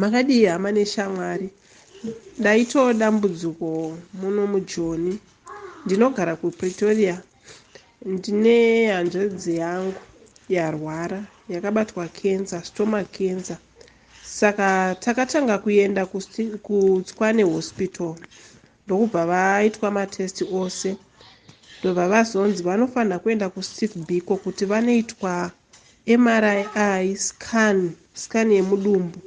Makadii hama neshamwari? Ndaitawo dambudziko muno mujoni. Ndinogara kuPretoria. Ndine hanzvadzi yangu yarwara yakabatwa kenza, stomach kenza. Saka takatanga kuenda kuTswane Hospital ndokubva vaitwa matest ose ndobva vazonzi vanofanira kuenda kuSick Biko kuti vanoitwa MRI i scan, scan yemudumbu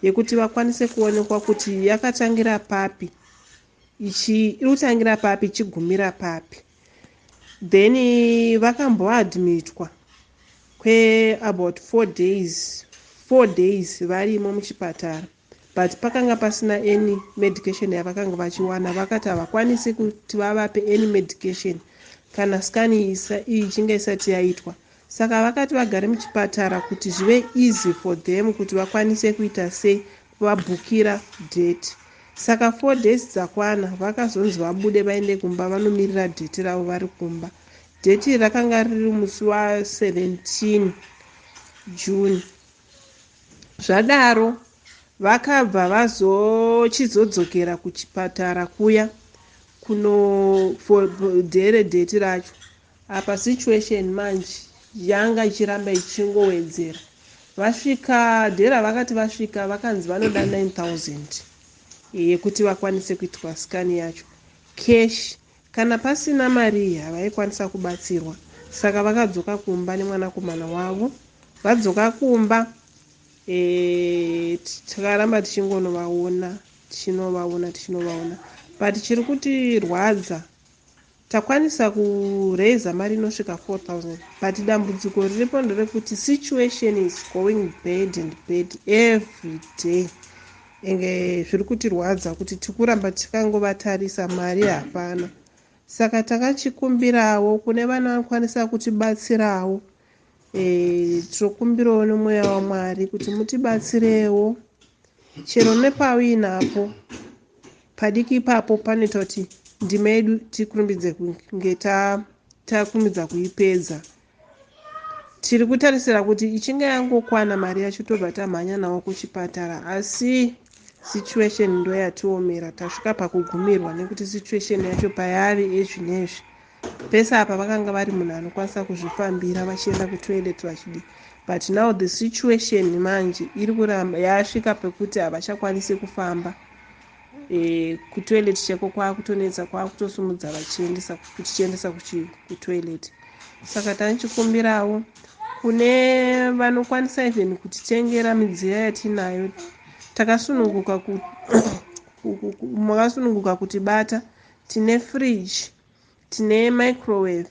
yekuti vakwanise kuonekwa kuti yakatangira papi ichi iri kutangira papi ichigumira papi then vakamboadmitwa kweabout four days four days varimo muchipatara but pakanga pasina any medication yavakanga vachiwana vakati havakwanisi kuti vavape any medication kana scan iyi ichinge isati yaitwa saka vakati vagare muchipatara kuti zvive easy for them kuti vakwanise kuita sei vabhukira date saka four days dzakwana vakazonzi vabude vaende kumba vanomirira date ravo vari kumba date rakanga riri musi wa 17 june Zvadaro vakabva vazochizodzokera kuchipatara kuya kuno for dare date racho apa situation manje yanga ichiramba ichingowedzera vasvika dhera vakati vasvika vakanzi vanoda 9000 yekuti vakwanise kuitwa scan yacho cash Kana pasina mari iyi havaikwanisa kubatsirwa saka vakadzoka kumba nemwanakomana wavo. Vadzoka kumba eh, takaramba tichingonovaona tichinovaona tichinovaona but chiri kutirwadza takwanisa kuraiza mari inosvika 4000 but dambudziko riripo nderekuti situation is going bad and bad every day Enge zviri kutirwadza kuti tikuramba tikangovatarisa mari hapana. Saka takachikumbirawo kune vanokwanisa kutibatsirawo. Eh, tinokumbirawo nomweya waMwari kuti mutibatsirewo chero nepauinapo padiki ipapo panoita kuti ndima yedu tikurumbidze kunge takurumidza kuipedza tiri kutarisira kuti ichinge yangokwana mari yacho tobva tamhanya nawo kuchipatara asi situation ndo yatiomera tasvika pakugumirwa nekuti situation yacho payave ezvi nezvi pese apa vakanga vari munhu anokwanisa kuzvifambira vachienda kutoilet vachidi but now the situation manje iri kuramba yasvika pekuti havachakwanisi kufamba e, kutoilet cheko kwakutonetsa kwakutosumudza vachiendesa kutichiendesa kutoilet saka tanichikumbirawo kune vanokwanisa even kutitengera midziyo yatinayo takasununguka makasununguka kutibata tine fridge tine microwave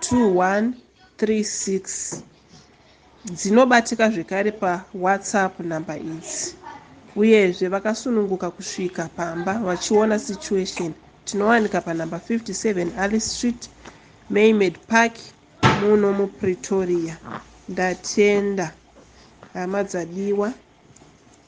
2136 dzinobatika zvekare pawhatsapp number idzi uyezve vakasununguka kusvika pamba vachiona situation tinowanika panumber 57 alice street maymed park muno mupretoria ndatenda hama dzadiwa